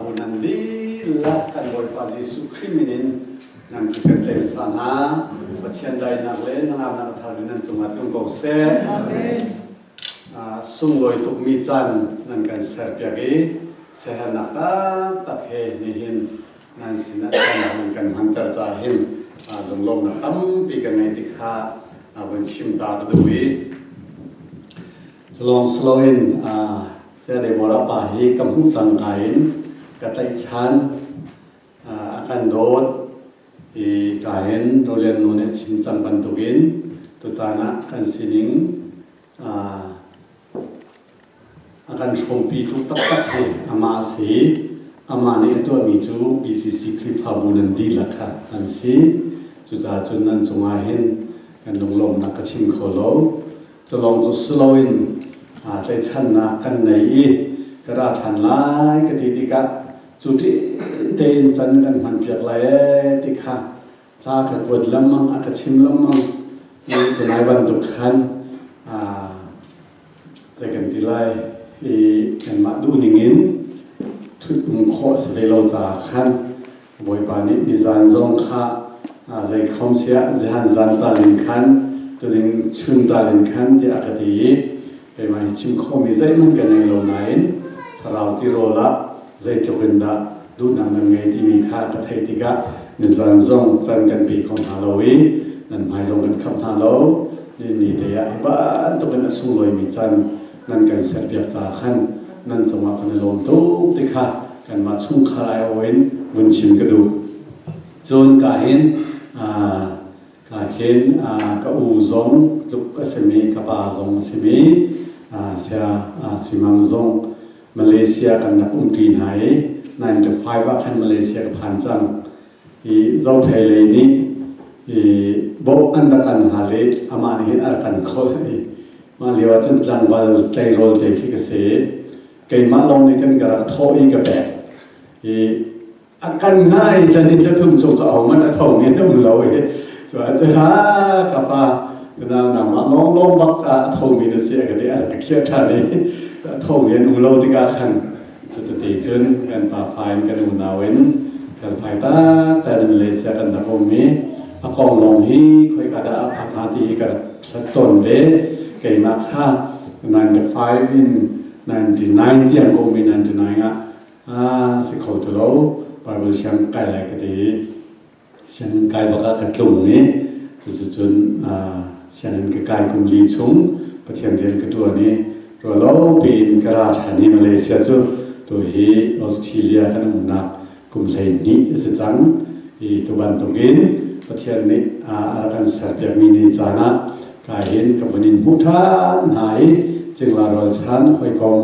nan dihlak kan Bawipa Jesuh Khrih min in nan cu kan tlem sa hna Pathian dainak le nangamnak a thar in nan cungah tlung ko seh sunglawi tukmi caan nan kan serpiak i siahernak taktak he nihin nan sinah nan kan hmanter caah hin lunglawmnak tampi kan ngei ti kha vun chim ta ka duh i Salawng Saloin Sayadaw Morapa hi ka hmuh cangka in ka tlaihchan a kan dawt i ka in Rolen nu nih chim cang bantukin tutan ah kan sining a kan hrawmpi tuk taktak hi amah a si amah nih a tuahmi cu BCC Khrihfabu nan dihlak kha an si cucaah cun nan cungah hin kan lunglawmhnak ka chim kho lo Culawng cu si loin tlaihchannak kan nei i ka ra ṭhan lai ka ti tikah cu ṭin tein can kan hmanpiak lai ee ti kha ca ka kuat lengmang a ka chim lengmang cu lai bantuk khan ta kan ti lai i kanmah duhning in ṭhut khawh a si hlei lo caah khan Bawipa nih nizan zong kha zei khom siah zehan zan tal in khan tuding chun tal in khan tiah a ka ti i keimah i chim khawhmi zeihmanh ka ngei lo nain thlarau tirawl ah zeitluk in dah duhnak nan ngei timi kha ka theih tikah nizan zong can kan pe kho hna lo i nan hmai zong kan kham hna lo ni te ah hi bantukin a sunglawimi can nan kan serpiak caah khan nan cungah kan i lawm tuk ti kha kanmah chungkhar aiawh in vun chim ka duh. Cun ka hin ka hin ka u zong tluk a simi ka pa zong a simi sia simang zong Malaysia kan rak um ṭi hna i 95 ah khan Malaysia ka phan cang. i zothei lei nih i bawh an rak kan hal i amah nih hin a rak kan kholh i mah lio ah cun tlangval tleirawl te khi ka si keimah lawng nih kan ka rak thawh i ka pek i a kan ngah i tla nih tla thum cu ka ong a tho nge um lo i cu a ce ha ka fa nau nangmah lawng lawng bak a thomi na si a ka ti a rak ka khiah ṭhan i a tho nge an um lo tikah khan Cuti cun kan pa fa in kan unau in kan fai ta ta in Malaysia kan rak um i a kong lawng hi khoika dah a phak hnga ti hi ka rak hlat tawn ve keimah kha 95 in 99 tiang ka um i 99 ah a si kho ti lo Bible siang kai lai ka ti Sianginn kai bak ah ka tlung i cucucun sianginn ka kai kum li chung Pathian rian ka ṭuan i ruallo piin ka ra ṭhan i Malaysia cu tu hi Australia kan umnak kum hleihnih a si cang i tu bantukin Pathian nih a rak kan serpiakmi ni caan ah kai hin ka vun in hmuh ṭhan hna i cingla rual chan hawikom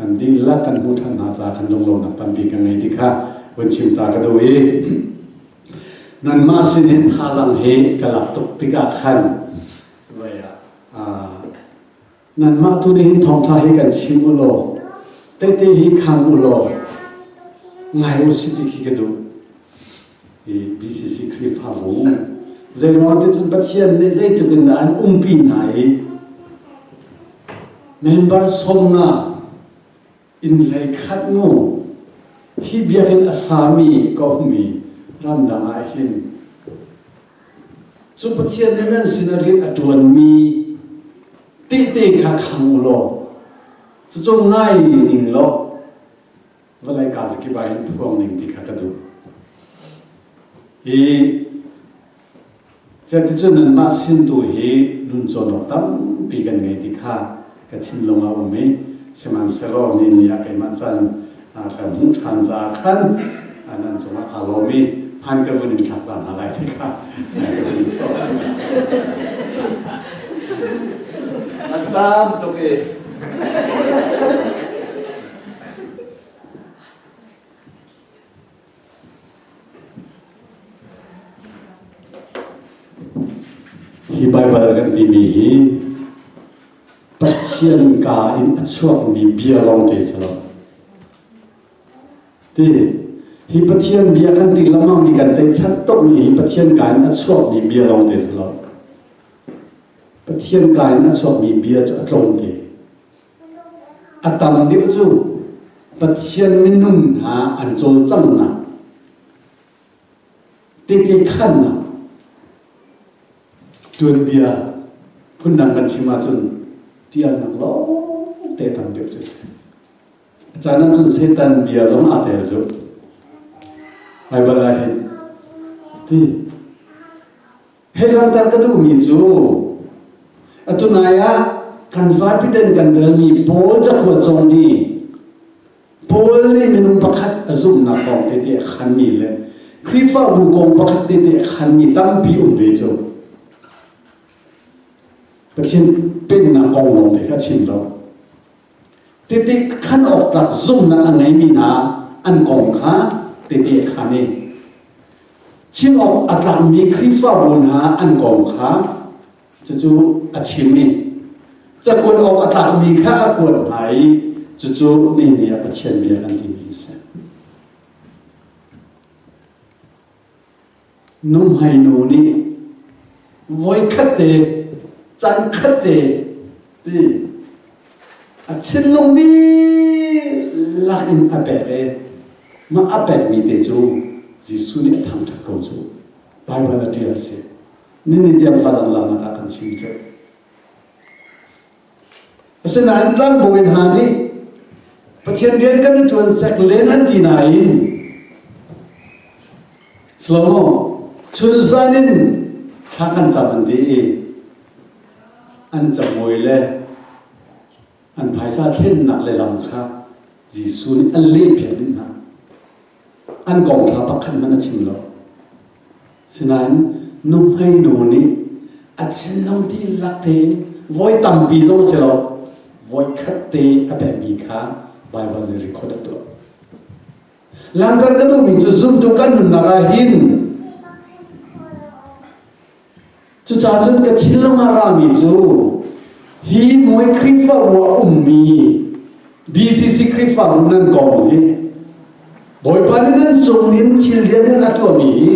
Kan dihlak kan hmuh ṭhan hna caah kan lunglonak tampi kan ngei ti kha vun chim ta ka duh i nanmah sin in thazaang hi ka lak tuk tikah khan voi ah nanmah tu nih hin thawngṭha hi kan chim u law tehte hi khang u law ngai u si ti khi ka duh BCC Khrihfabu zeimaw cun Pathian nih zeitluk in dah an umpi hna i member sawm nga in hlei khat nu hi biakinn a sami ka ummi ramdang ah hin cu Pathian nih nan sinah rian a ṭuanmi tehte kha khang u law cucu ngai ning law vawlei kaa zakip ah hin phuang ning ti kha ka duh. Hi Ciaticun nanmah sin tu hi nuncawnawk tampi kan ngei ti kha ka thinlung a um i sihmanhsehlaw nih ni ah keimah can kan hmuh ṭhan caah khan nan cungah kaa lawm i hmaan ka vun in thlak ta hna lai ti kha ka vun in sawm. An tam tuk i Hi Baibal kan timi hi Pathian ka in a chuakmi bia lawngte si lo. Ti hi Pathian bia kan ti lamang mi kan tei chat tuk mi hi Pathian ka in a chuakmi bia lawngte si lo. Pathian ka in a chuakmi bia cu a tlawmte. A tam deuh cu Pathian minung hna an cawlcanghnak, tete khannak, tuanbia phundang kan chim ahcun ṭialnak lawng te tam deuh cu a si. A caan ahcun Satan bia zong aa tel cu. Baibal ah hin. Ti. Hehlanter ka duhmi cu atu nai ah kan zapi ten kan relmi Paul cakuat zong nih Paul nih minung pakhat a zumhnak kong tete a khanmi le Khrihfabu kong pakhat tete a khanmi tampi um ve cu Pathian pennak kong lawng te kha chim lo Tete khan awktlak zumhnak a ngeimi hna an kong kha tete khan i chim awk a tlakmi Khrihfabu hna an kong kha cucu a chim i cakuat awk a tlakmi kha a kuat hna i cucu nihin i a Pathian bia an timi a si. Nuhmeinu nih voikhatte, cankhatte ti a thinlung dihlak in a pek i mah a pekmi te cu Jesuh nih a thangṭhat ko cu. Baibal a ṭial a si. Nihin tiang fa dang lam lakah kan chim cu. Asinain tlangbawi hna nih Pathian rian kan i ṭuan sek len an ti nain Slomo chunzan in thla kan cam an ti i an camuai le an phaisa thlennak le lam kha Jesuh nih a lehpiak dih hna. an kongṭha pakhat hmanh a chim lo. Sinain nuhmei nu nih a chin lo dihlak tein voi tampi zong a si lo voi khat te a pekmi kha Baibal nih record a tuah. Langkan ka duhmi cu zumtu kan nunnak ah hin Cucaah cun ka thinlung a rami cu hi Muay Khrifa bu a ummi BCC Khrifa bu nan kong hi Bawipa nih nan cung in thil lianngan a tuahmi hi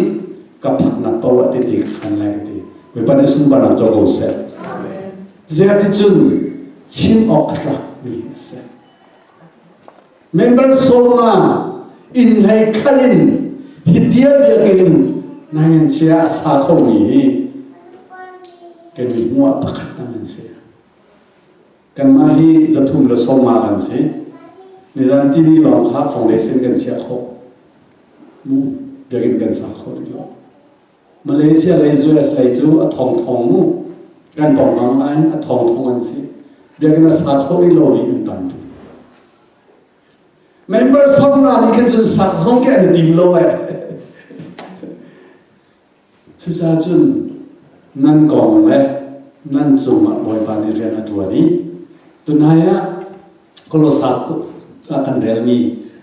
ka phaknak paoh ah titi ka khan lai ka ti. Bawipa nih sunparnak co ko seh. Ziah ticun chim awk a tlakmi a si. Member sawmnga inn hlei khat in hi tial biakinn nan sia a sa khomi hi kan i hmu ah pakhat nan an si. Kanmah hi zathum le sawmma kan si. Nizan TV lawng kha foundation kan chiah khawh. Biakinn kan sa khawh rih lo. Malaysia lei US lei cu a thongthong mu kan tong ngam lai a thongthong an si biakinn a sa kho rih lo ri in tam tuk members of hna nih khan cun sak zong ke an i tim lo ai cucaah cun nan kong le nan cung ah Bawipa nih rian a ṭuan i tunai ah Kolosas kan relmi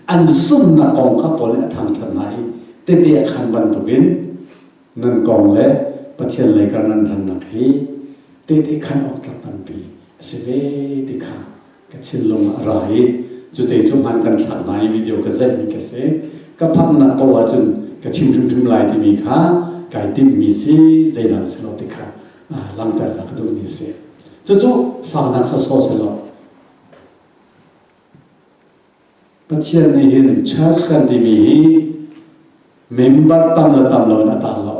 an zumhnak kong kha Paul nih a thangṭhat hna i tete a khan bantukin nan kong le Pathian lei kar nan rannak hi tete khan awk tlak nganpi a si ve ti kha ka thinlung ah a ra i cute cu hmaan kan thlak hna i video ka zeihmi ka si ka phaknak paoh ahcun ka chim hrimhrim lai timi kha kai timhmi si zeidah si lo ti kha langhter ka duhmi si cucu faknak sasawh sehlaw Pathian nih hin church kan timi hi member tam le tam lo in a tang lo.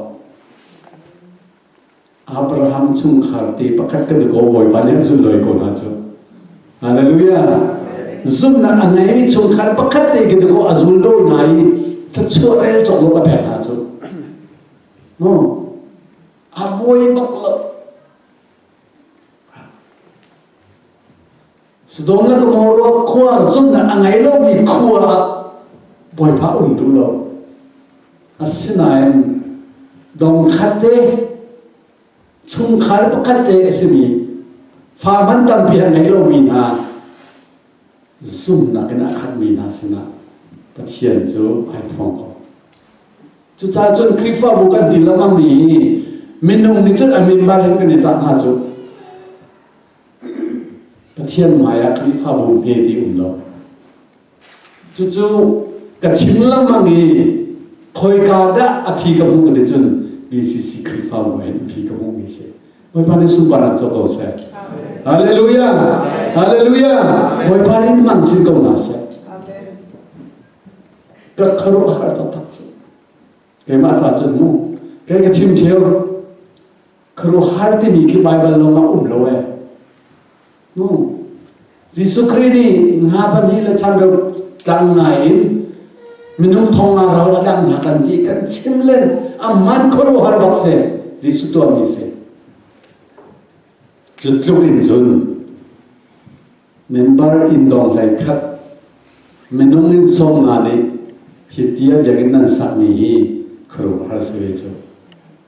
Abraham chungkhar te pakhat kan i ko bawipa nih a zulh loi ko hna cu. Hallelujah. Zumhnak a ngei chungkhar pakhat te kan i ko a zul lo hna i thluachuah rel cawk lo ka pek hna cu. No. A buai bak lo. Sodom le Gomorrah khua zunnak a ngei lomi khua ah bawipa um duh lo. Asinain dongkhat te chungkhar pakhat te a simi fa man tampi a ngei lomi hna zumhnak in a khatmi hna sinah Pathian cu ai phuang ko. Cucaah cun Khrihfabu kan ti lengah mi minung nih cun a mimbar in kan i tah hna cu Pathian hmaiah Khrihfabu hme ti um lo. Cucu ka chim lengmang i khoika dah a phi ka hmuh ti cun BCC Khrihfabu in phi ka hmuh mi si. Bawipa nih sungvar ah tuah ko seh. Hallelujah! Hallelujah! Bawipa nih hman chin ko hna seh. Ka kharuah har taktak cu. Keimah ca cun mu. Kei ka chim cheu. Kharuah har timi khi Bible lawng ah um lo eh. hnu Jesuh Khrih nih hna pahnih le chan reu tlang ngai in minung thong nga ro a dang hna kan ti kan chim le a man khuaruahar bak se Jesuh tuanmi si cu tluk in cun member in dong hlei khat minung in sawm nga nih hi ti a biakinn nan sakmi hi khuaruahar si ve cu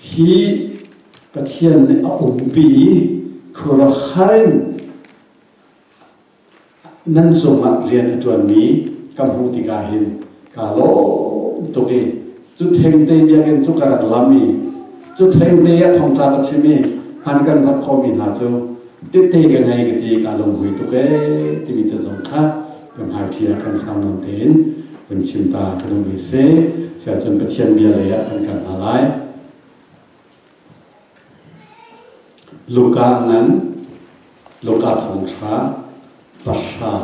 hi Pathian nih a umpi i khuaruahhar in nan cungah rian a ṭuanmi ka hmuh tikah hin kaa lawm tuk i cu thengte biakinn cu ka rak lam i cu thengte ah thongtlak a chim i hman kan hlap khomi hna cu tete ka ngei ka ti i kaa lunghui tuk ee timi te zong kha kan hngakchia kan sau nawn tein kan chim ta kan um hi si siahcun Pathian bia lei ah kan kal hna lai Luka ngan Luka thong thra parhra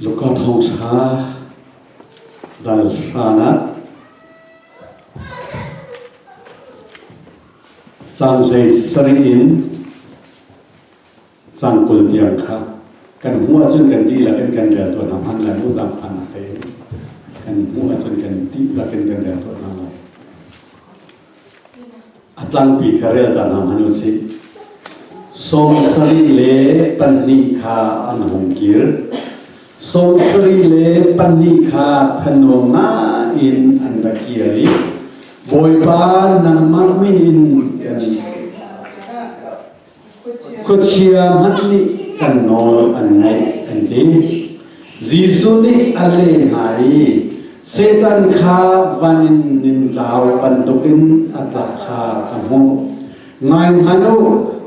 Zuka thosa dal hran ah caan zei sarih in caan kul tiang kha kan hmuh ahcun kan dihlak in kan rel tawn hna hman lai mu zaangfan tein kan hmuh ahcun kan dihlak in kan rel tawn hna lai. A tlangpi kha relta hna hmanh u sih. Sawm sarih le pahnih kha an hung kir. Sawm sarih le pahnih kha thanuam ngaiin an ra kir i Bawipa nangmah min in kan Khuachia hmanh nih kan nawl an ngaih an ti. Jesuh nih a leh hna i Satan kha van in nintlau bantuk in a tlak kha a hmuh. Ngai hman u,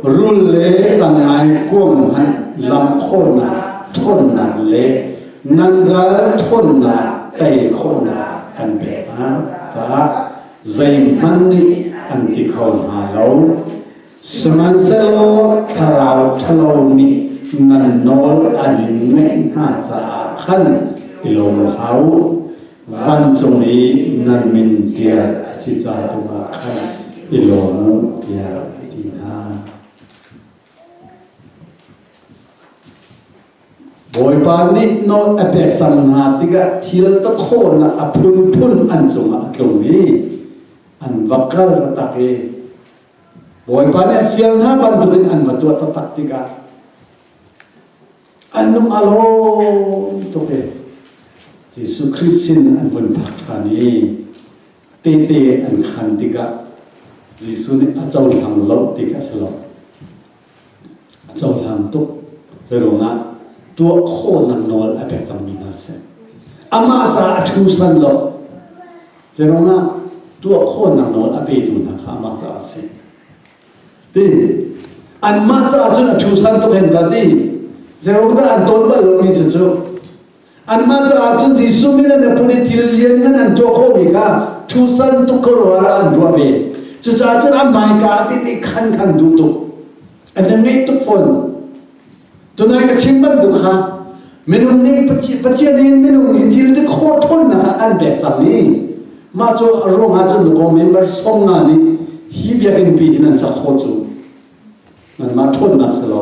rul le tangai kuam hmanh lam khawhnak ṭhawnnak le nan ral ṭhawnnak tei khawhnak kan pek hna caah zeihmanh nih an ti kho hna lo. Sihmanhsehlaw thlarau ṭhalo nih nan nawl an ngaih hna caah khan i lawm hlah u, vancung i nan min ṭial a si ca tu ah khan i lawm u, tiah a ti hna. Bawipa nih nawl a pek cang hna tikah thil takhawnnak a phunphun an cungah a tlung i an va kal taktak i Bawipa nih fial hna bantukin an va tuah taktak tikah an lung a lawm tuk e. Jesuh Khrist sin an vun phak ṭhan i tete an khan tikah Jesuh nih a cohlang lo tik a si lo. a cohlang tuk. Zeiruangah tuah khawhnak nawl a pek cangmi hna si. Amah caah a thusan lo. Zeiruangah tuah khawhnak nawl a petu hna kha amah caah a si. Ti anmah caah cun a thusan tuk hen ta ti. Zeiruangah an tawn bal lomi si cu Anmah caah cun Jesuh min le miphun i thil lianngan an tuah khawhmi kha thusan tukkawrual ah an ruah ve. Cucaah cun an hmaika ti ti khan khan duh tuk. An in ngeih tuk fawn. Tunai ka chim bantuk kha minung nih Pathian nih minung nih thil ti khawh ṭhawnnak ah an pek cang i mah cu a ruangah cun nukaw member song nga nih hi biakinn pi hin an sak khawh cu. Nanmah ṭhawnnak si lo.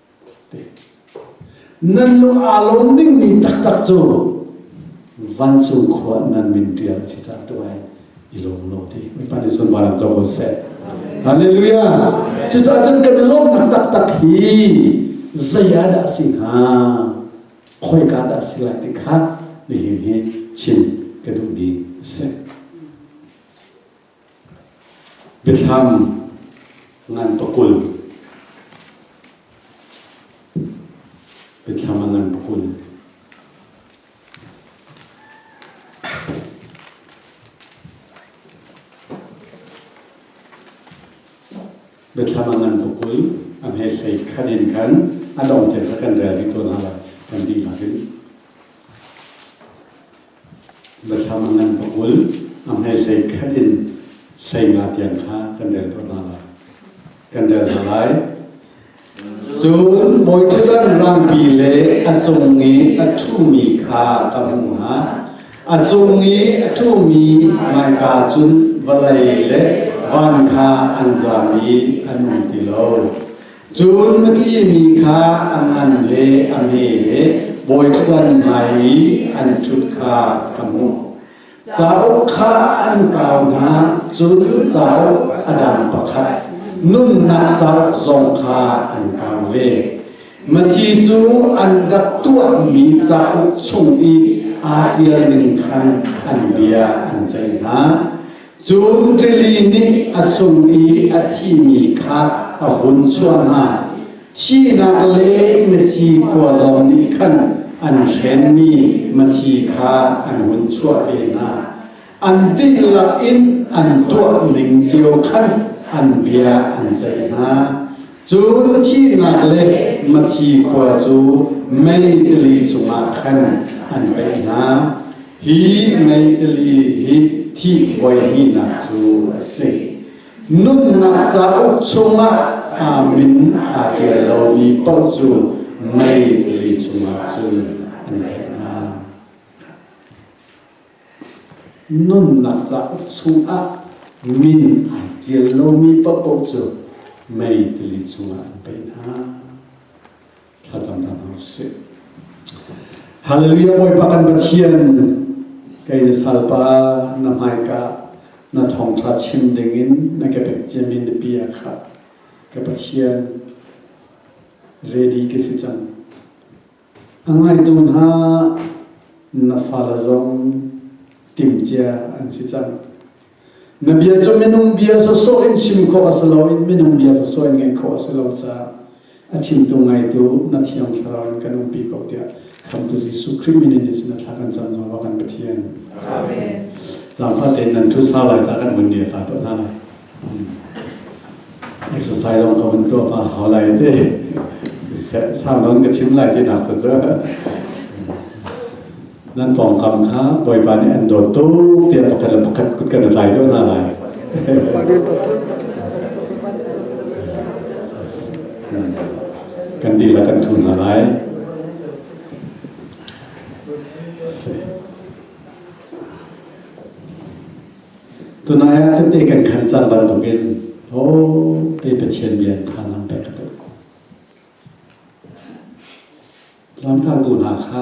Nan lung aa lawm dingmi taktak cu vancung khua nan min ṭial a si cang tu ai i lawm law ti mipa nih sunparnak co ko seh halleluja cucaah cun kan i lawmnak taktak hi zei ah dah a si hnga khoika dah a si lai ti kha nihin hi chim ka duhmi a si Biathlam ngan pakul. Biathlam a ngan pakul. Biathlam a ngan pakul. A hme hlei khan in khan a dong te kha kan rel dih tawn hna lai. Kan dihlak in. Bathlam an va kul, a hmai hlei khat in hleima tiang kha kan rel ko hna lai. Kan rel hna lai. Cun bawi ṭhat an rangpi le a cung i a ṭhumi kha ka hmuh hna. A cung i a ṭhumi hmaika cun vawlei le van kha an zam i an um ti lo. Cun na thimi kha a ngan le a me le bawiṭhuan hmai i an ṭhut kha ka hmuh. Cauk kha an kau hna, cun cauk a dang pakhat, nunnak cauk zong kha an kau ve. Mathi cu an rak tuahmi cauk chung i aa ṭial ning khan an bia an ceih hna. Cu rili nih a cung i a thimi kha a hun chuah hna. Thihnak le Mathi khua zong nih khan an hrenmi Mathi kha an hun chuah ve hna. An dihlak in an tuah ning cio khan an bia an ceih hna. Cun thihnak le Mathi khua cu mei tili cungah khan an pei hna. Hi mentally hi thihbuai hihnak cu a si. Nunnak cauk chungah amin aa ṭial lomi paoh cu mentally chungah cun an pek hna. Nunnak cauk chungah min ai ṭial lomi paoh cu mentally chungah an pei hna. thlacam hna hna sih. Hallelujah Bawipa kan Pathian kei na salpa na hmaika na thawngtha chim dingin na ka pekciamin na pia kha ka Pathian ready ka si cang. A ngaitu hna na fala zong timcia an si cang. Na bia cu minung bia sawsawh in chim khawh a si lo i minung bia sawsawh in ngaih khawh a si lo caah a chimtu ngaitu na thiang thlarau in kan umpi ko tiah khamtu Jesuh Khrih min in sin thla kan cam zong kan Pathian. Amen. Zaangfah tein nan thu sau lai ca kan hun dir ta tuah hna lai. Exercise long ka hun tuah pa hau lai te. Sang don ka chim lai ti nak sa cu. nan pawngkam kha Bawipa nih an dawt tuk tiah pakhat le pakhat kut kan i tlai deuh hna lai. kan dihlak kan thu hna lai. Tunai ah tete kan khan cang bantuk in ho te Pathian bia thazaang pek ka tuh. Lamkaltu hna kha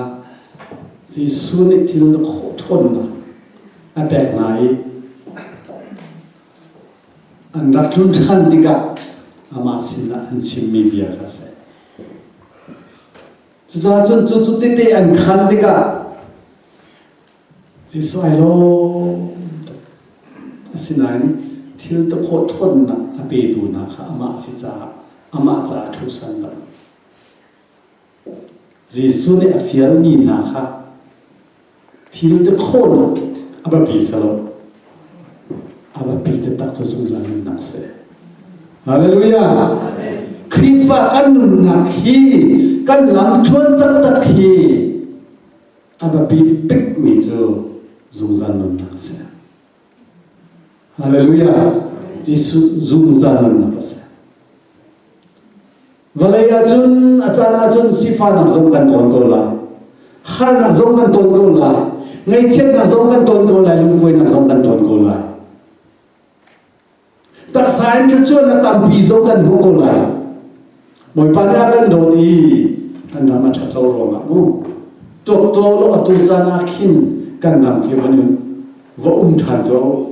Jesuh nih thil na khawh ṭhawnnak a pek hna i an rak tlun ṭhan tikah amah sinah an chimmi bia kha a si. Cucaah cun cu cu tete an khan tikah Jesuh ai lawm tuk. Asinain thil tu khawh ṭhawnnak a petu hna kha amah si caah amah caah ṭhusan lo. Jesuh nih a fialmi hna kha thil ti khawhnak a biapi si lo. A biapi taktak cu zungzal nunnak a si. Hallelujah! Khrihfa kan nunnak hi kan lam ṭuan taktak hi a biapi bikmi cu zungzal nunnak a si. Hallelujah! Jesuh zungzal nunnak a si. Vawlei ahcun a caan ahcun sifahnak zong kan tawn ko lai. Harnak zong kan tawn ko lai. Ngaihchiatnak zong kan tawn ko lai. Lungkuainak zong kan tawn ko lai. Taksa in thluachuah na tampi zong kan hmu ko lai. Bawipa nih a kan dawt i kan ram a ṭhatlo ruangah mu. Tuaktaw law atu caan ah khin kan ram fi van in va um ṭhan tuah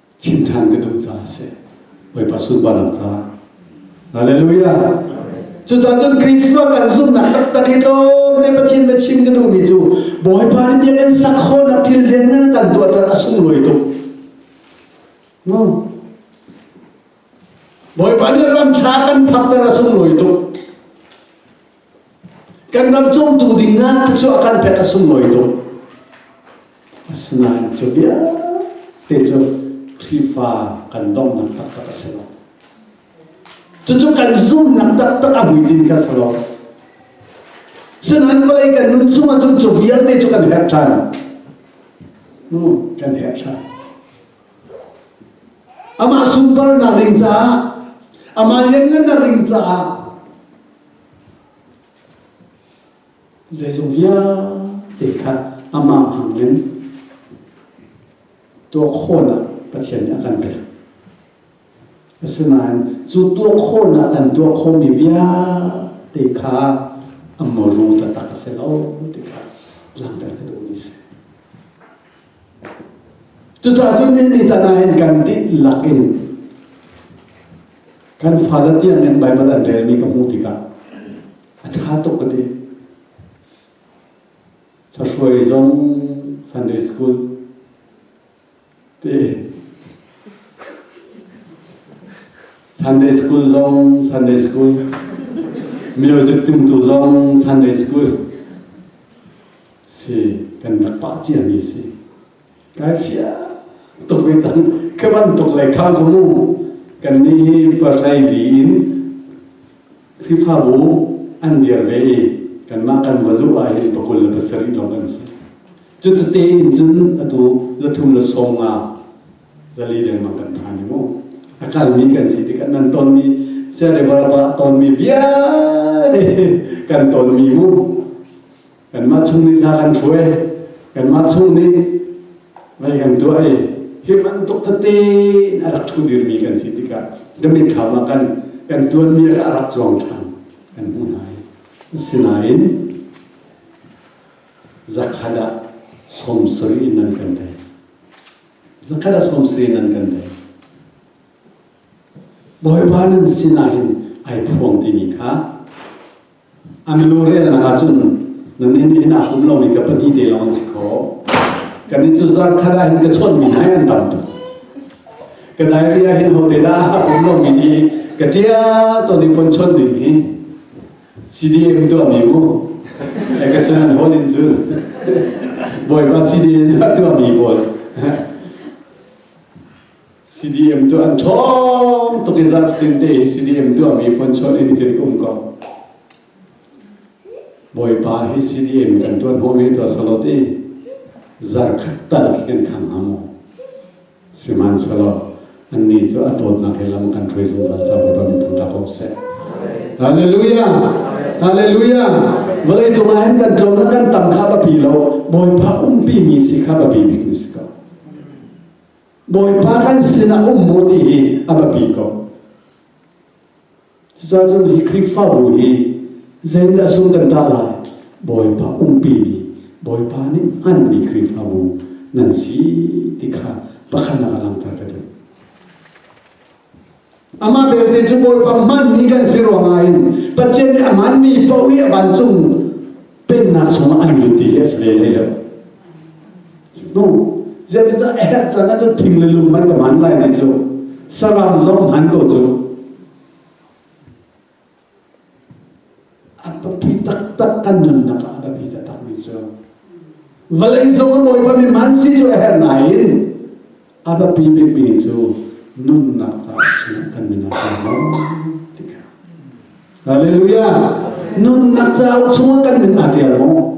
chim ṭhan ka duh caah a si. Bawipa sunparnak caah. Hallelujah! Cucun cun Krishna kan zumhnak taktak hi tlawmte Pathian bia chim ka duhmi cu Bawipa nih bia kan sak khawhnak thil lianngan a kan tuahter a sunglawi tuk. No. Bawipa nih ram ṭha kan phakter a sunglawi tuk. Kan ram cungtu ding ngan cu a kan pek a sunglawi tuk. Asinain cu vialte cu Khrihfa kan domnak taktak a si lo. Cucu kan zumhnak taktak a hmuitinh kha a si lo. Sinain vawlei kan nun chung ah cun cu vialte cu kan herh ṭhan. Hmm, kan herh ṭhan. Amah sunparnak ring caah, amah lianngannak ring caah, Zeizong vialte kha amah hmangin tuah khawhnak Pathian nih a kan pek. Asinain cu tuah khawhnak kan tuah khawhmi vialte kha amawrung taktak a si lo ti kha langhter ka duhmi a si. Cucaah cu ni caan ah hin kan dihlak in kan fale tiang in Baibal an relmi ka hmuh tikah a ṭha tuk ka ti. Thahruai zong Sunday school ti Sunday school zong Sunday school music tumtu zong Sunday school si kan rak pah ciami si kai fiang tuk ve cang khi bantuk lei khang ko mu kan ni hi palai li in khrifabu an dir ve i kanmah kan valu ah hin pakul le pasarih lawng kan si cu tete in cun atu zathum le som nga zali lengmang kan pha ni mu a kalmi kan si tikah nan tonmi sereba ton mi vialte kan ton mi mu Kanmah chung nih hna kan hruai, kanmah chung nih vai kan tuah i hi bantuk tete in a rak thu dirmi kan si tikah nimin kham ah kan kan tuanmi kha a rak zuang ṭhan kan hmuh hna i asinain zakhat ah sawmsarih in nan kan tei zakhat ah sawmsarih in nan kan tei Bawipa nan sinah hin ai phuang timi kha An nu relnak ahcun nannih nih hin aa hlum lomi ka pahnih te lawng an si kho. Kan inn cu zarkhat ah hin ka chawnhmi hna an tam tuk. Ka diary ah hin hote dah a pum lomi nih ka ṭial tawn i phone chawn ding hi CDM tuahmi mu. Ekasun an hol in cun Bawipa CDM a tuahmi pawl CDM tu an ṭhawm tuk i zarh fatin te hi CDM tuahmi phone chawn in hitin um ko. Bawipa hi CDM kan tuan hau ve tua salo te zarh khat tal hitin khang ha mu. Siman salo an ni cu a dawtnak he lam kan ṭhui zungzal ca Bawipa min thang ra ko seh. Hallelujah! Hallelujah! Vale cungah hin kan tlawm na kan tam kha bapi lo Bawipa umpi mi si kha bapi bik ni si ko. Bawipa kan sinah um mu ti hi a biapi ko. Cucun hi Khrihfabu hi zeidah sung kan ta lai? Bawipa umpi mi, Bawipa nih hmanmi Khrihfabu nan si ti kha pakhatnak a langhter ka duh. Amah belte cu Bawipa hmanmi kan si ruangah in Pathian nih a hmanmi paoh i a vancung pennak chungah an lut ti hi a si ve hlei lo. No, zeicah a herh can ah thing le lung hmanh ka hman lai ti cu saram zong hman ko cu. An pangpi taktak kan nunnak ah a biapi taktakmi cu vawlei zong a bawipami hmansi cu a herh nain a biapi bikmi cu nunnak caah chungah kan nun ah kan lawm ti kha. Hallelujah! Nunnak caah chungah kan nun aa ṭial maw?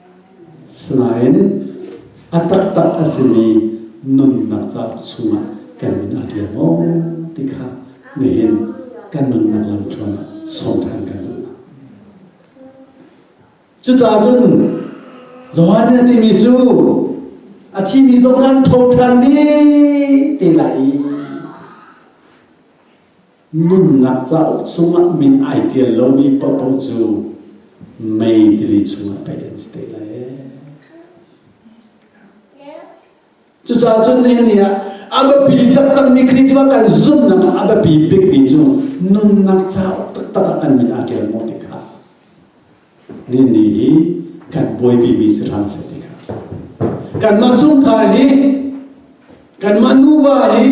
Sinain a taktak a simi nunnak ca chungah kan min a ṭial maw ti kha nihin kan nunnak lam hram sawm ṭhan kan duh. Cucaah cun Johannes timi cu a thimi zong kan tho ṭhan dih te lai i Nunnak cauk chungah min ai ṭial lomi paohpaoh cu mei tili chungah pei an si te lai Cucaah cun nihin ah a biapi taktakmi Khrihfa kan zumhnak ah a biapi bikmi cu nunnak cauk taktak ah kan min aa ṭial maw ti kha Dinni hi kan buaipimi si hram seh ti kha. Kanmah chungkhar hi, kanmah nuva hi,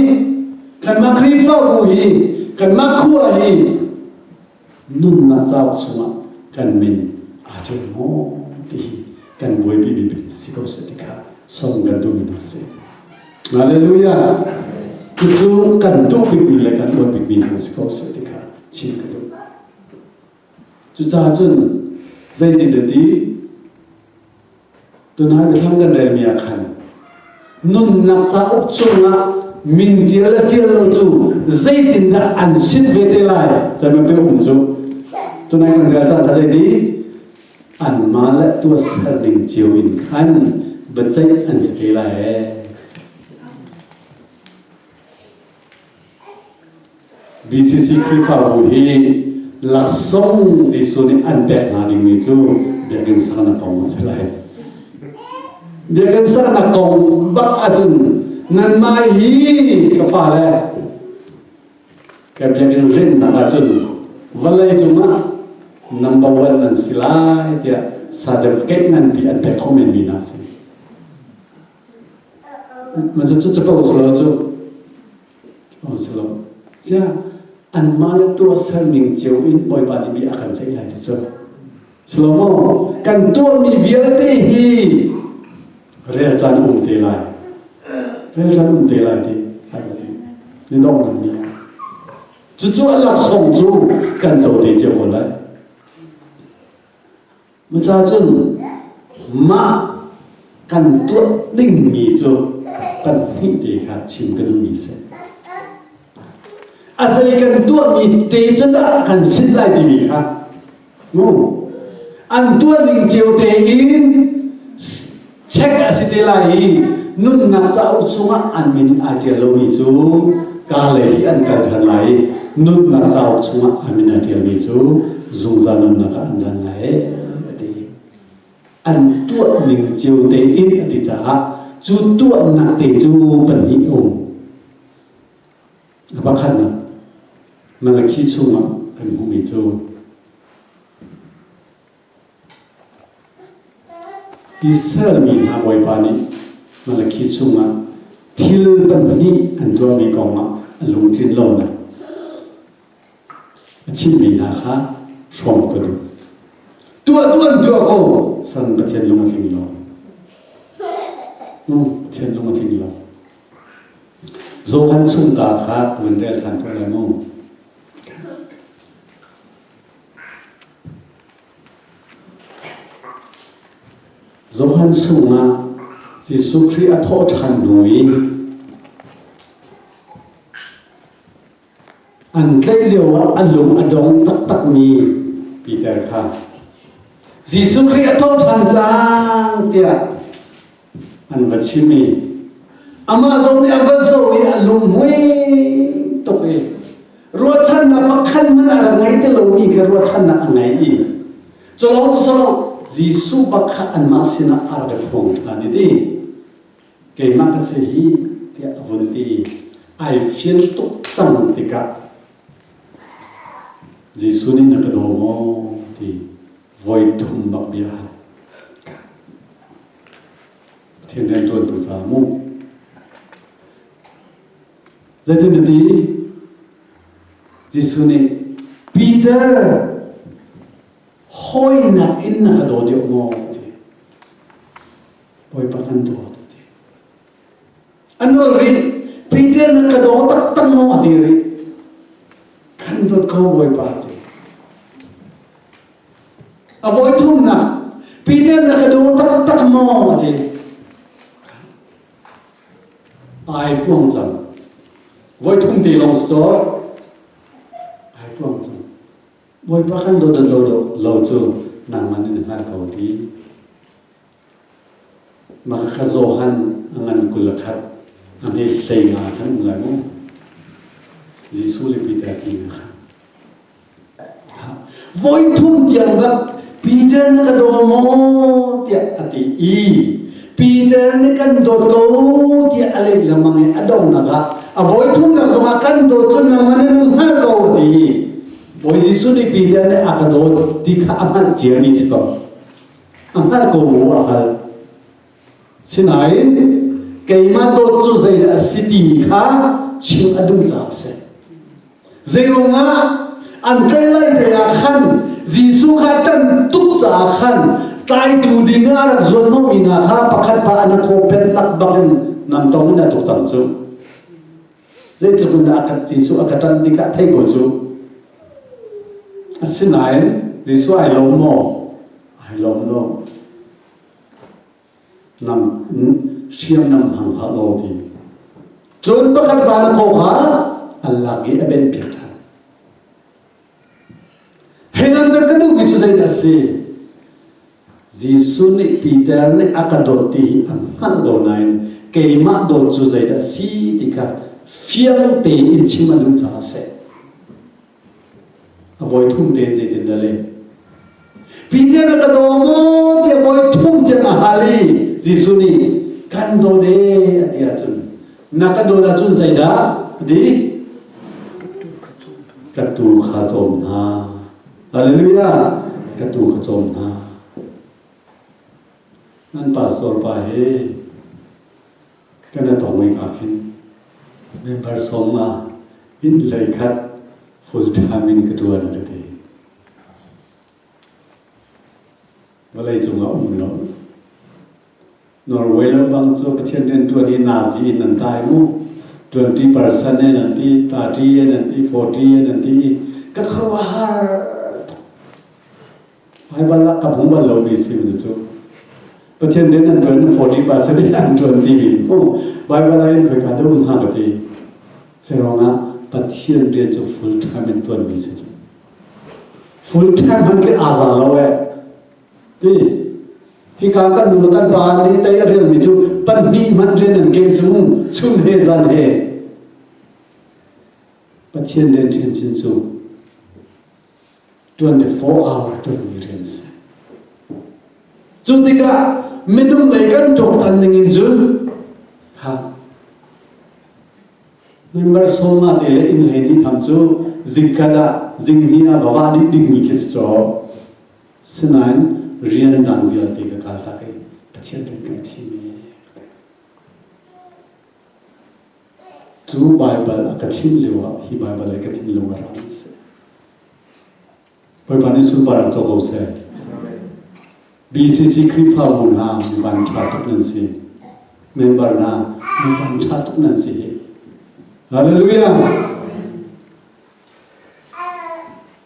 kanmah Khrihfabu hi, kanmah khua hi nunnak cauk chungah kan min aa tel maw ti hi kan buaipimi ding si ko seh ti kha sawm kan duhmi hna si. Hallelujah! Cucu kan duh bikmi le kan buat bikmi cu si ko seh ti kha chim ka duh. Cucacun zeitintiati tunai biathlang kan relmi ah khan nunnak cauk chungah min ṭial le ṭial lo cu zeitindah an sit ve te lai caan pe um cu tunai kan rel caan kha zeiti anmah le tuasal ning cio in khan biaceih an si te lai ee DCC Khrihfabu hi laksawng Jesuh nih an pek hna dingmi cu biakinn saknak kong a si lai. Biakinn saknak kong bak ahcun nanmah hi ka fale ka biakinn hrennak ahcun vawlei cungah number one nan si lai tiah certificate nganpi an pek khawh menmi hna a si. Mah cu capo salo cu oh salo. Ziah anmah le tuahser ning cio in Bawipa nih bia a kan ceih lai ti cu. Slomo, kan tuahmi vialte hi rel caan um te lai. Rel caan um te lai ti ai ule. Ni donghnak ni. Cucu a laksong cu kan co te cio ko lai. Maca cun mah kan tuah dingmi cu kan hmuh te kha chim ka duhmi si. A zei kan tuahmi te cu dah kan sin lai timi kha mu. An tuah ning cio tein Check a si te lai i nunnak cauk chungah an min aa ṭial lomi cu kaa lei i an kal ṭhan lai i nunnak cauk chungah an min aa ṭialmi cu zungzal nunnak ah an dan lai a ti. An tuah ning cio tein a ti caah cu tuahnak te cu pahnih a um. A pakhatnak Malakhi chungah kan hmuhmi cu Israelmi hna Bawipa nih Malakhi chungah thil pahnih an tuahmi kongah a lungtlin lonak a chimmi hna kha hrawm ka duh. Tuah duh an tuah ko, san Pathian lung a tling lo. Hmm, Pathian lung a tling lo. Johan chung ta kha kan rel ṭhan ko lai mu. Johan chungah Jesuh Khrih a thawh ṭhan hnu i an tlaih lioah a lung a dong taktakmi Peter kha Jesuh Khrih a thawh ṭhan cang tiah an va chim i amah zong nih a va zo i a lungmuai tuk i ruahchannak pakhat hmanh a rak ngei ti lomi kha ruahchannak a ngei i culawng cu solo Jesuh bakhat anmah sinah a rak hrawng ṭhan i ti keimah ka si hi tiah a vun ti i ai fial tuk cang tikah Jesuh nih na ka daw maw ti voi thum bak bia Pathian rianṭuantu caah mu. Zeitin a ti? Jesuh nih Peter hawinak in na ka daw deuh maw? ti. Bawipa kan dawt. a nual rih Peter na ka daw taktak maw a ti rih kan dawt ko Bawipa ti a voi thumnak Peter na ka daw taktak maw a ti ai puang cang voi thum te long so ai puang cang Bawipa kan dawt lo lo lo cu nangman in hngal ko ti Mah kha Johan a ngan kul a khat. A hme hlei nga khan um lai maw? Jesuh le Peter ti na kha. Voi thum tiang bak Peter na ka daw maw tiah a ti i Peter nih kan dawt ko tiah a lei lemang i a donak ah a voi thum nak zongah kan dawt cu nangman in um hngal ko ti i Bawi Jesuh nih Peter nih a ka dawt ti kha a hngalh ciami si ko. a hngalh ko mu a hngalh sinain keimah dawt cu zei a si timi kha chim a duh caah a si zeirungah an kai lai te ah khan Jesuh kha ṭan tuk caah khan tlaitu ding ah rak zuan lomi hna kha pakhat pa an khawpet lak bak in nam tong in a tuk cang cu Zeitluk in dah Jesuh a ka ṭan tikah theih ko cu. Asinain Jesuh ai lawm maw? Ai lawm lo. Nang hriamnam hang hlah law ti. Cun pakhat va na khaw kha an lak i a benhpiak ṭhan. Hengander ka duhmi cu zeidah a si? Jesuh nih Peter nih a ka dawt ti hi a hngalh ko nain keimah dawt cu zeidah a si ti kha fiang tein chim a duh caah a si. A voi thum tein zeitindah le Pinte na ka daw maw tiah voi thum tiang a hal i Jesuh nih kan daw de a ti ahcun na ka dawt ahcun zeidah a ti ka tu kha cawm hna Hallelujah ka tu kha cawm hna nan pastor pa he Kan a tawng ning ah khin member sawm ma in lei khat full time in ka tuan an ti. Vawlei cung a um lo. Norway lo bang cu Pathian rian tuan hi Nazi in an tai mu. 20% in an ti, 30 in an ti, 40 in an ti. Ka khuahar Hmaibal ah ka hmu bal lo mi si mi cu. Pathian den an tuan 40% in an tuan ti mi mu. Bible ah hin khoi ka dum ha ka ti. Serong ah Pathian rian cu full time in tuan mi si cu. Full time han ke azal lo e. Ti hika kan nu kan pa ni tei rial mi cu pahnih man rian an ke chung chung he zan he Pathian den ṭhen chin cu 24 hour ṭanmi rian a si. Cu tikah minung lei kan tuaktan ningin cun ha member soma te le inn hei ti tham cu zingkat ah zinghni ah va dih dingmi khi si caw sinain rian dang vialte ka kal hlak i Pathian kan kan thimi Cu Baibal a ka chimh lioah hi Baibal i ka thin lung a rak i seh. Bawipa nih sunpar rak co ko seh. BCC Khrihfabu hna mivan ṭha tuk nan si. Member hna mivan ṭha tuk nan si hi. Hallelujah!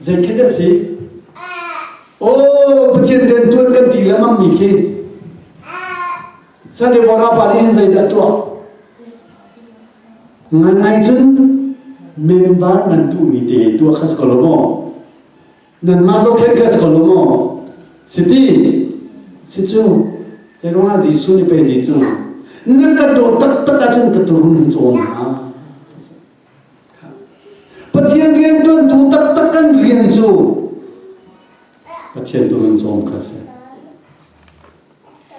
Zeikhin a si? Oh, Pathian rian ṭuan kan ti lengmang mi khi Sandevara pa nih hin zeidah tuah? Ngangai cun member nan duh mi te tuah kha si ko lo maw? Nan mah zohkhenh kha si ko lo maw? Siti, si cu, zeiruangah Jesuh nih pei ti cu, nan ka daw taktak ahcun ka turum cawn hna. Pathian rianṭuantu taktak kan rian cu Pathian tu in cawm kha si.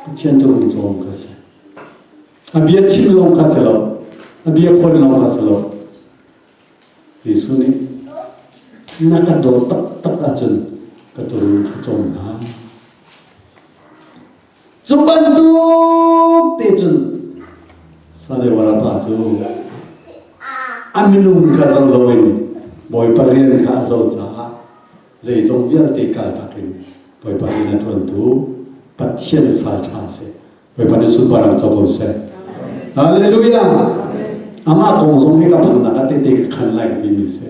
Pathian tu in cawm kha si. A bia chim lawng kha si lo. A bia khual lawng kha si lo. Jesuh nih na ka daw taktak ahcun ka tu in ka cawm hna. Cu bantuk te cun sale warapa cu a minung kha zoh loin Bawipa rian kha a zoh caah zeizong vialte kaltak in Bawipa rian a ṭuantu Pathian sa ṭha a si. Bawipa nih sunparnak co ko seh. Hallelujah! Amah kong zong hi ka phannak ah tehte ka khan lai timi a si.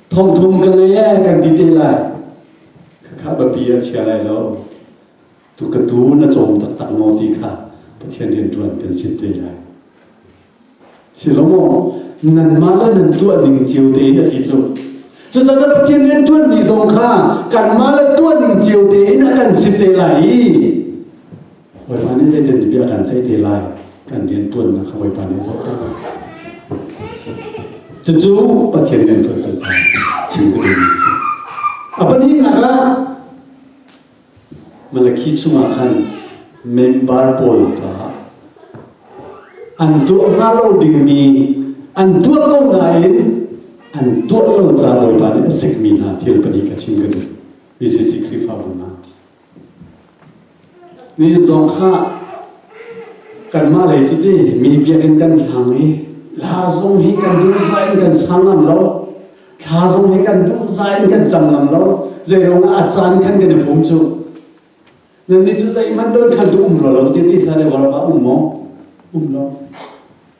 thongthum ka lei eh kan ti te lai khakha bapi a chia lai lo tu ka tu na cawm taktak maw ti kha pathian rian tuan kan sit te lai si lo maw nan mah le nan tuah ding cio te na ti cu cucaah pathian rian tuan ni zong kha kan mah le tuah ding cio te in a kan sit te lai i Bawipa nih zeitin bia a kan ceih te lai kan rianṭuannak kha Bawipa nih a zohter. Cucu Pathian rianṭuantu ca chim ka duhmi a si. A pahnihnak ah Malakhi chungah khan member pawl caah an tuah hnga lo dingmi an tuah ko nain an tuah lo ca Bawipa nih a sikmi hna thil pahnih ka chim ka duh. Moses i Khrihfabu hna Nihin zong kha kanmah lei cu ti mi biakinn kan hlang i hla zong hi kan duhzah in kan sang ngam lo hla zong hi kan duhzah in kan cang ngam lo zeiruang ah a caan khan kan i pum cu nannih cu zeihmanh don khan tu um lo lo ti ti sa ne warpa um maw um lo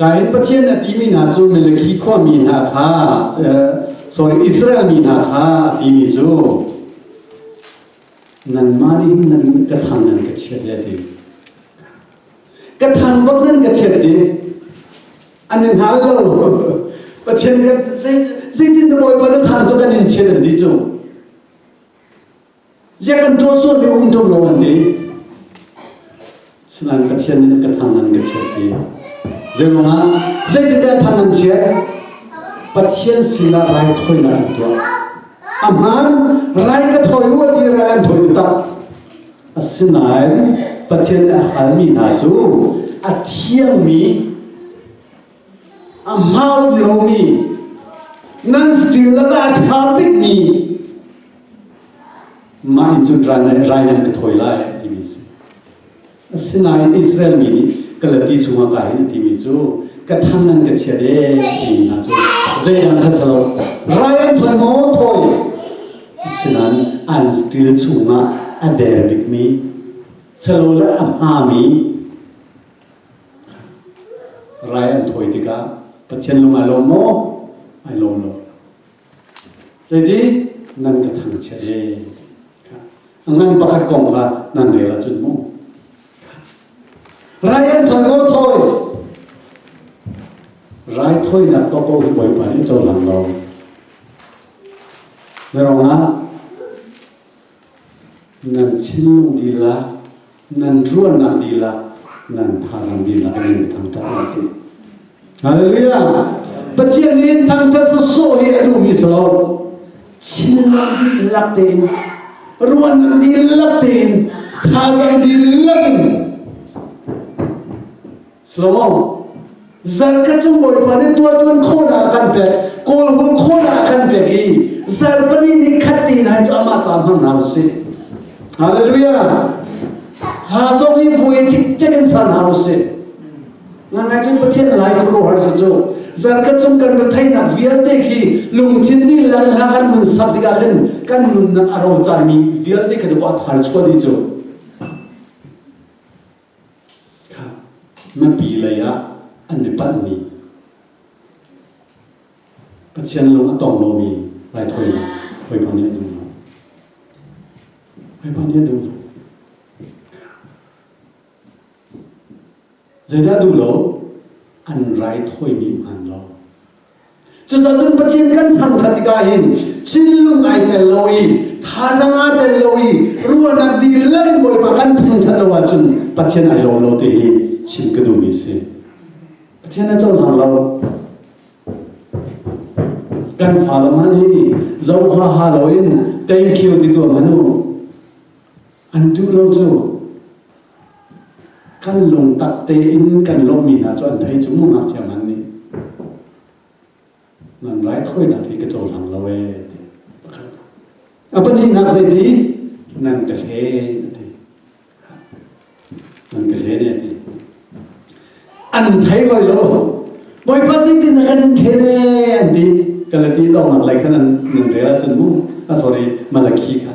Ka in Pathian a timi hna cu Malakhi khuami hna kha sorry Israel mi hna kha timi cu nanmah nih nan ka thang nan ka chiat ya ti ka thang bang nan ka chiat ti an in hal lo Pathian ka zeitin na bawi pa na thang cu kan in chiat an ti cu Ziah kan tuah sual mi um ṭung lo an ti. Sinain Pathian nih ka thang an ka chiat i zeirungah zeitete thang an chiat Pathian sinah raithawinak an tuah a hmaan rai ka thawi u a ti rai an thawi u tak asinain Pathian nih a halmi hna cu a thiangmi a hau lomi nan stil lakah a ṭha bikmi mah in cun rai nan ka thawi lai timi si asinain Israel mi nih Galati chungah kai in timi cu ka thang nan ka chiat e timi hna cu zeidang khat salo rai an thawi maw thawi asinain an stil chungah a der bikmi salo le a hmami Rai an thawi tikah Pathian lung ai lawm maw? Ai lawm lo. Zeiti? Nan ka thangchiat he. A ngan pakhat kong kha nan rel ahcun mu. Rai an thawi ko thawi. Rai thawinak to ko hi Bawipa nih cohlan lo. Na rongah Nan thinlung dihlak, nan ruahnak dihlak, nan thazaang dihlak in nan thangṭhat lai ti. Hallelujah! Pathian nih thangṭhat sawsawh hi a duhmi so thinlung dihlak tein, ruahnak dihlak tein, thazaang dihlak in Shalom. Zarh ka cung Bawipa nih tuaṭuan khawhnak kan pek, kawl hum khawhnak kan pek i zarh pali ni khat ti lai cu amah ca hman hna usih. Hallelujah. Ha zong hi vui cikcek in san hau usih. Ngangai cun Pathian lai cu rohar si cu. Zarka cung kan retheihnak vialte khi lungthin nih lan hla kan nun sak tikah khin kan nunnak a ro caan mi vialte kan i wah thar chuan hi cu. Mipi lei ah an i palhmi, Pathian lung a tong lomi raithawinak hawipa nih a duh lo. Hawipa nih a duh lo. Zeidah duh lo? An raithawimi hman lo. Cucacun Pathian kan thangṭhat tikah hin thinlung ai tel lo i thazaang aa tel lo i ruahnak dir lo in Bawipa kan thangṭhat lo ahcun Pathian ai lawm lo ti hi chim ka duhmi a si. Pathian a cohlang lo. Kan fale hmanh hi zohha lo in thank you ti tuah hmanu an duh lo cu Kan lungtak tein kan lawmhmi hna cu an thei cu mu ngakchia ngan nih nan raithawinak hi ka cohlang lo ee ti pakhatnak a pahnihnak zeiti nan ka hlen ti nan ka hlen e ti an thei hoi lo bawipa zeitin na kan in hlen e an ti kan le ti dongnak lei khan an nan rel ahcun mu a sorry malakhi kha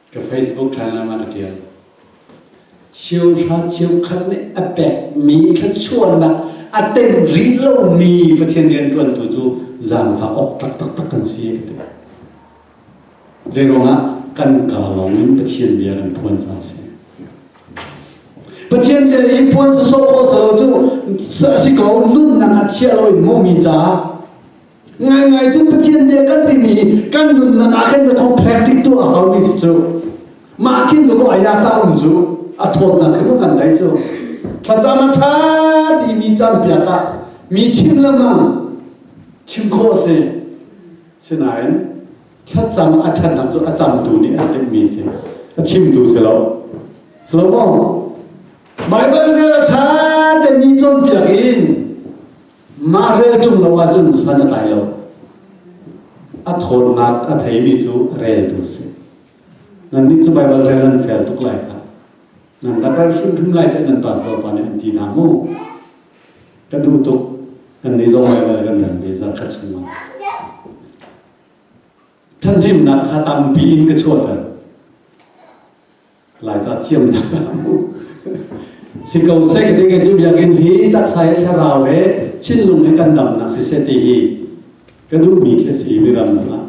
ka Facebook ṭhalang ah a ṭial. Cheuhra cheukhat nih a pekmi thluachuahnak a teng rih lomi Pathian rianṭuantu cu zaangfah awk taktaktak kan si a ti. Zeiruangah kan ka lawngin Pathian bia kan phuan ca a si. Pathian bia i puan sasawh khawh salo cu a si ko nunnak a chiah lo in maw mi caah ngaingai cun Pathian nih kan timi kan nunnak ah hin dakaw practice tuah hau mi si cu mah khin dakaw ayata um cu a thawtnak khin kan dai cu thlacam a tha ti mi cam piak ah mi chim le mang chim kho se sinain thlacam a thatnak cu a camtu nih a timh mi si a chimtu si lo Solomon Bible rel tha te ni cawn piak in Mah rel cung lo ahcun san a tlai lo. A thawnnak a theimi cu reltu si. Nan nih cu Baibal rel an fel tuk lai kha. Nan rak hrimhrim lai tiah nan pastor pa nih an ti hna mu. Ka duh tuk. Kan nih zong Baibal kan rel ve zarkhat chungah. Ṭhathnemnak kha tampi in ka chuahter. Laica thiamnak a hmuh. Si ko seh ti ke cu biakinn hi taksa he thlarau he thinlung he kan damnak si seh ti hi ka duhmi khi si mi ram ah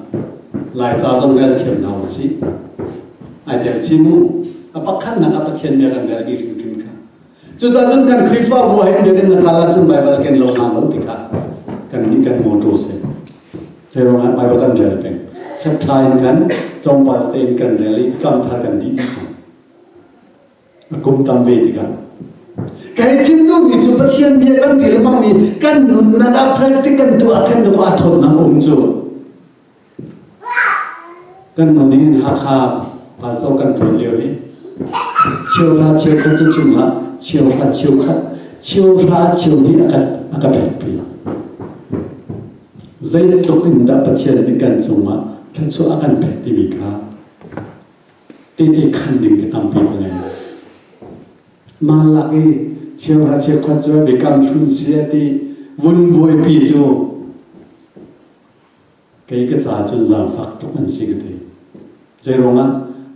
Laica zong rel thiam hna u sih. Ai tel chin u. A pakhatnak ah Pathian bia kan rel dih hrimhrim kha Cucacun kan Khrihfabu he biakinn na kal ahcun Baibal ken lo hna lo tikah kan nih kan mawṭaw si. Zei ruangah Baibal kan rel peng. Chattha in kan tlawmpal te in kan rel i kamthar kan dih dih cang. A kum tam ve tikah. Ka hei chim duhmi cu Pathian bia kan ti lengmang mi kan nun nan ah practical tuah kan duh ah thawt nang um cu. Kan no nih hin Hakha pastor kan ṭuan lio hi cheuhra cheukhat cu cungah cheuhra cheukhat cheuhra cheu nih a kan a ka pekpi zeitluk in dah Pathian nih kan cungah thluachuah a kan pek timi kha tete khan ding te tampi ka ngei mah lak i cheuhra cheukhat cu biakam hlun sia ti vun buaipi cu Kei ka caah cun zaangfak tuk an si ka ti. Zeiruangah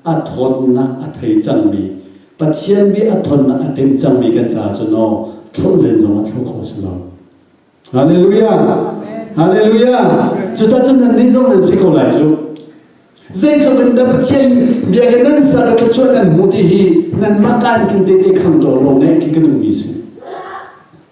a tthawnnak a thei cangmi Pathian mi a tthawnnak a timh cangmi kan caah cun aw thlauh len zong a thlauh kho si lo. Halleluja! Halleluja! Cucacun nannih zong nan si ko lai cu. Zeitluk in na Pathian bia kan nan sa ka thluachuah nan hmu ti hi nanmah ka in kan tete khang taw law ngeih khi ka nungmi si.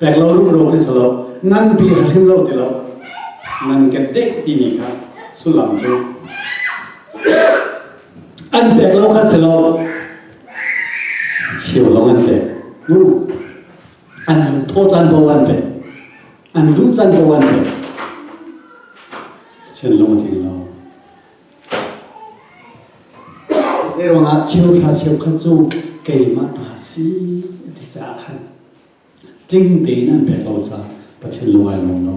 pek lo rumro khi si lo nganpi hrim lo ti lo nan ke deh timi kha sullam cu an pek lo kha si lo chiu lo an pek bu an tho chan bo an pek an du chan bo an pek chen lo chin lo Erwang ah chiu kha chiu kha cu keimah ta si ti cha khan tling tein an pek lo caah Pathian lung ai lawm lo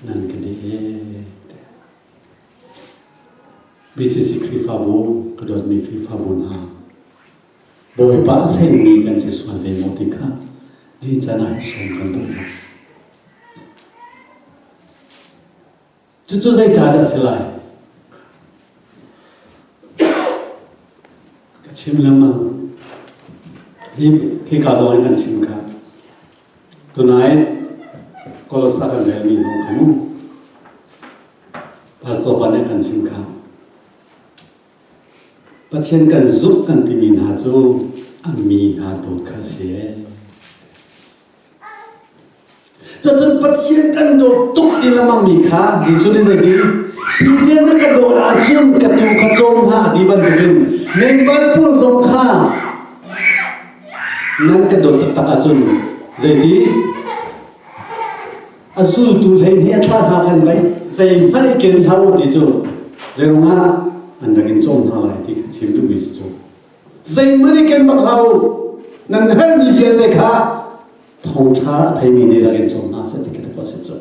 nan ka deh BCC Khrihfabu ka dawtmi Khrihfabu hna Bawipa a hlengmi kan si sual ve maw ti kha din can ah sawm kan tum hna. Cucu zeicah a si lai? Ka chim lengmang. Hi, hika zong in kan chim kha. Tonight, Kolosa kan relmi zong khan Pastor pa nih kan chim kha. Pathian kan zumh kan timi hna cu an mi hna dawt kha a si. Cucun Pathian kan dawt tuk ti lengmang mi kha Jesuh nih a ti. Pathian na ka dawt ahcun ka tuu kha cawm hna a ti bantukin mengbal pur zong kha nan ka dawt taktak ahcun zeiti? A zultu hleihnih a thlah hna khan vai zeihmanh i ken hlah u ti cu zeiruangah an rak in cawm hna lai ti kha chim duhmi si cu. zeihmanh i ken bak hau nan herhmi vialte kha thawngṭha a theimi nih rak in cawm hna seh ti ka a si cu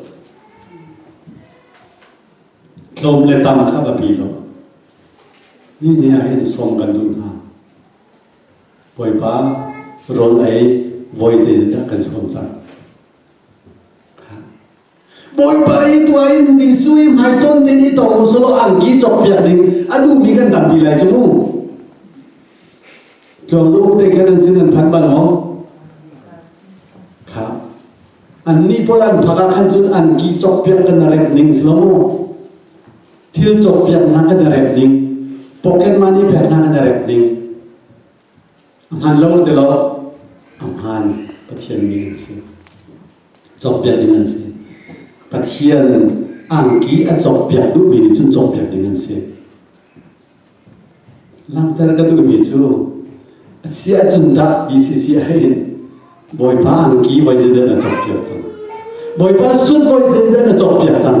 tlawm le tam kha biapi lo nihin ah hin sawm kan duh hna bawipa rawl ei voi zeizat kan sawm cang Bawipa i tua in Jesuh i hmai ton ding i tong usulaw angki cokpiak ding a duhmi kan tampi lai cu mu. Tlawng te kan an sin an phan bal maw? Kha. Annih pawl an phak ah khan cun angki cokpiak kan rep ning si lo mu. Thil cokpiak hna kan rep ning. Pocket money pek hna kan rep ning. A hmaan lo ti lo, a hmaan Pathian mi an si. Cawkpiak ding an si. Pathian angki a cawkpiak duhmi nih cun cawkpiak ding an si. Langhter ka duhmi cu a si ahcun dah BCC hin Bawipa angki voi zedan a cawkpiak cang. Bawipa sut voi zedan a cawkpiak cang.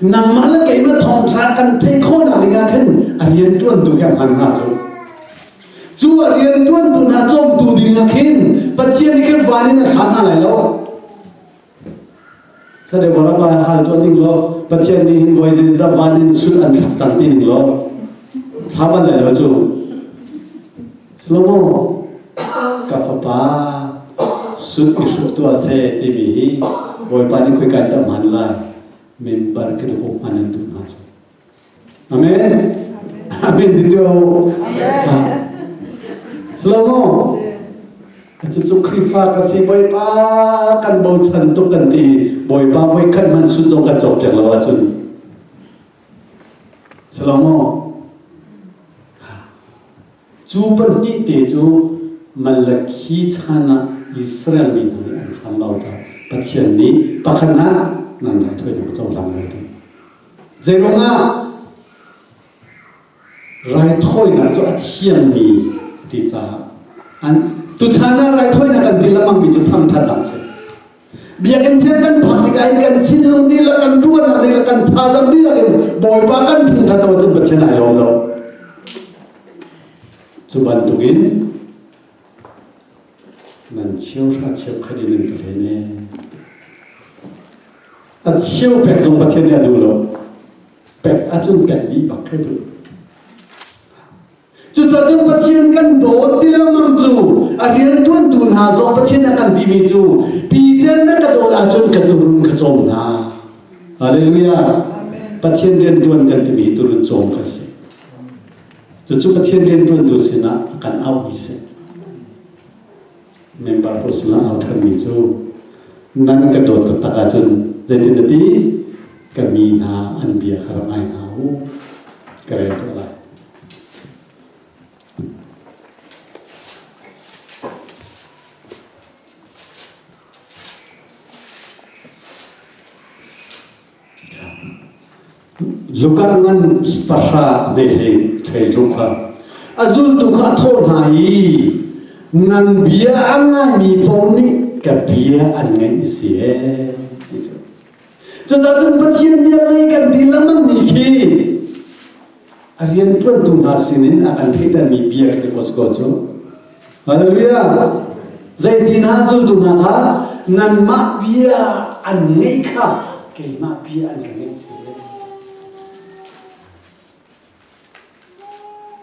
nangmah le keimah thawngṭha kan theih khawhnak dingah khin a rianṭuantu hi a hmaan hnga cu cu a rianṭuantu hna cawmtu dingah khin Pathian nih khin van in a kha hna lai lo sadeu rabba hal tuan ding lo Pathian nih hin voi zin da van in sul an thlak cang ti ning lo thlaban lai lo cu Salomo, ka fapa, sun i hruk tuah seh timi hi Bawipa nih khoi kan tam han lai. Mimbar ke duk hman an tu hna cu. Amen. Amen dito. Salomo, Cucu Khrihfa ka si Bawipa kan bochan tuk kan ti Bawipa voi khat man sun zong kan cok piak lo ahcun Salomo Cu pahnih te cu Malakhi chan ah Israel mi hna nih an chan lo caah Pathian nih pakhat ah nan rak toinak cohlang lo ding. Zeiruangah raithawinak cu a thiammi a ti caah an tuchan ah raithawinak an din lengmangmi cu thangṭhat a si. Biakinn thil kan phanh tikah in kan thinhung dihlak kan ruahnak dihlak kan thazam dihlak in Bawipa kan phung than lo cun Pathian ai lawm lo. Cu bantukin nan chiao hra chiao khat in nan ka hle ne. A chiao pek zong Pathian nih a duh lo. Pek a cun pek dih bak khe duh. Cucacun Pathian kan dawt ti lengmang cu a rianṭuantu hna zong Pathian a kan timi cu Peter na ka dawt ahcun ka tuurun kha cawm hna. Halleluja! Pathian rianṭuan kan timi hi tuurun cawm kha si. Cucu Pathian rianṭuantu sinah a kan auh i si. Member pawl sinah au ṭhanmi cu nan ka dawt taktak ahcun zeitin na ti? Ka mi hna an bia kha rak ngai hna u. Ka rel tuah lai. Lukar ngan pahra a vehling thei rung kha a zultu kha a thawh hna i nan bia a ngaimi pawl nih ka bia an ngaih a si ee ti cu cucaah cun Pathian bia lei kan ti lengmang mi khi a rianṭuantu hna sinin a kan thleidanmi bia ka ti ko cu Hallelujah Zeiti hna zultu hna kha nanmah bia an ngeih kha keimah bia an ka ngeih si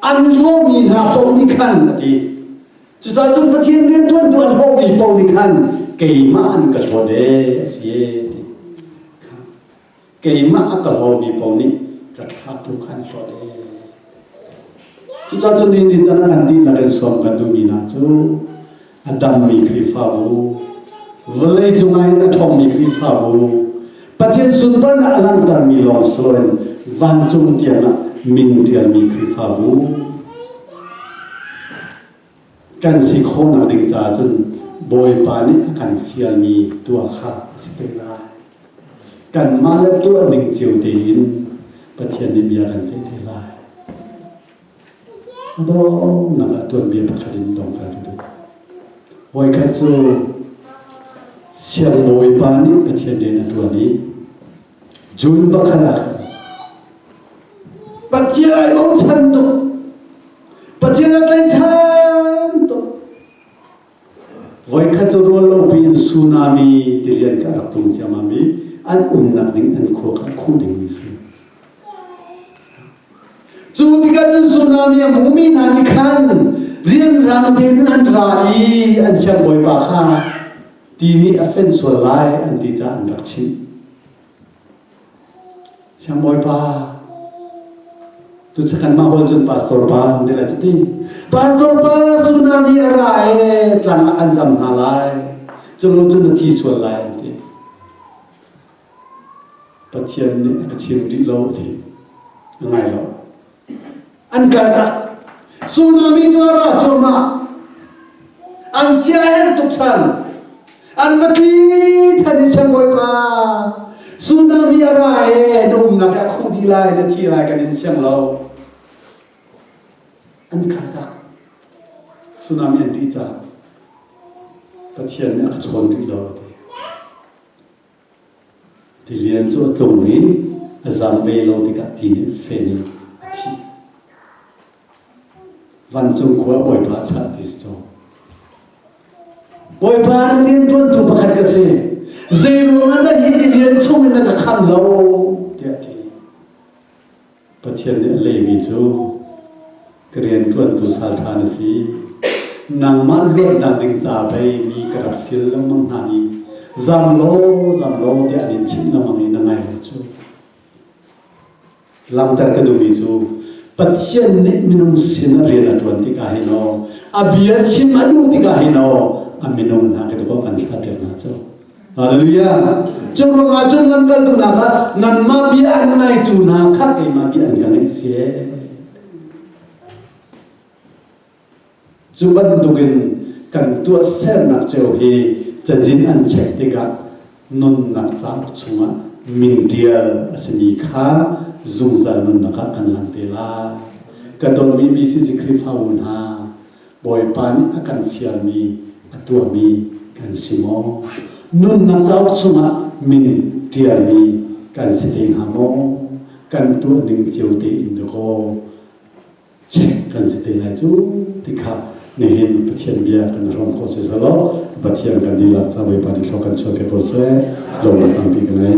an hlawmi hna paoh nih khan a ti cucaah cun Pathian rianṭuantu an hlawmi paoh nih khan keimah an ka hlawt ee a si ee ti keimah a tawmi pawl nih ka thla tu kha an hlawt ee cucah cu ni nih cun kan dihlak in sawm kan duhmi hna cu a dammi Khrihfabu vawlei cungah in a ṭhawngmi Khrihfabu Pathian sunparnak a langhtermi lawng sawin vancung tiang ah min ṭialmi Khrihfabu kan si khawhnak ding caah cun Bawipa nih a kan fialmi tuah kha a si peng lai. Kanmah le tuah ding cio tein Pathian nih bia kan ceih te lai. A donghnak ah tuanbia pakhat in dong kan ka duh. Voikhat cu siangbawipa nih Pathian rian a tuan i June pakhat ah Pathian ai bochan tuk Pathian a tlaichan tuk voikhat cu rual opi in tsunami tilian ka rak tung ciammam i an umnak ding an khua kan khuh dingmi si cu tikah cun tsunami a hmumi hna nih khan rianrang tein an ra i an siangbawipa kha ti nih a fenh sual lai an ti caah an rak chimh. Siang Bawipa, tu kan mah hawl cun pastor pa an ti la cu ti. Pastor pa tsunami a ra e tlang ah kan zam hna lai. Culu cun a thi sual lai an ti. Pathian nih a ka chim rih lo a ti. A ngai lo. an kaltak tsunami cu a ra cuahmah an siaherh tuk chan an mati than i chang bawipa tsunami a ra he na umnak he a khuh dih lai na thi lai kan in siang lo an kaltak tsunami an ṭih cang pathian nih a ka chawn rih lo a ti Tilian cu a tlung i a zam ve lo tikah ti nih fen in a thih. Vancung khua a bawipa a chah ti si caw. Bawipa rian ṭuantu pakhat ka si. Zeiruangah na hi tilian chungin na ka khamh lo? tiah a ti. Pathian nih a lehmi cu ka rianṭuantu salṭha na si. Nangmah luatnak ding ca pei mi ka rak fil lengmang hna i zam law zam law tiah an in chimh lengmang i na ngai lo cu. Langhter ka duhmi cu Pathian nih minung sin a rian a ṭuan tikah hin aw a bia chim a duh tikah hin aw a minung hna ke dawh kan hlat piak hna cu. Hallelujah. Cu ruang ah cun nan kal duhnak ah nanmah bia an ngaitu hna kha keimah bia an ka ngaih si. Cu bantuk in kan tuah sernak ceu hi cazin an check tikah nunnak cauk chungah min ṭial a simi kha zungzal nunnak ah kan lan te lai. Ka dawtmi BCC Khrihfabu hna, Bawipa nih a kan fialmi, a tuahmi kan si maw? Nunnak cauk chungah min ṭialmi kan si te hnga maw? Kan tuah ning cio tein dakaw check kan si te lai cu ti kha nihin Pathian bia kan hrawm ko si selaw Pathian kan dihlak ca Bawipa nih thlo kan chuah te ko seh lungre tampi ka nei.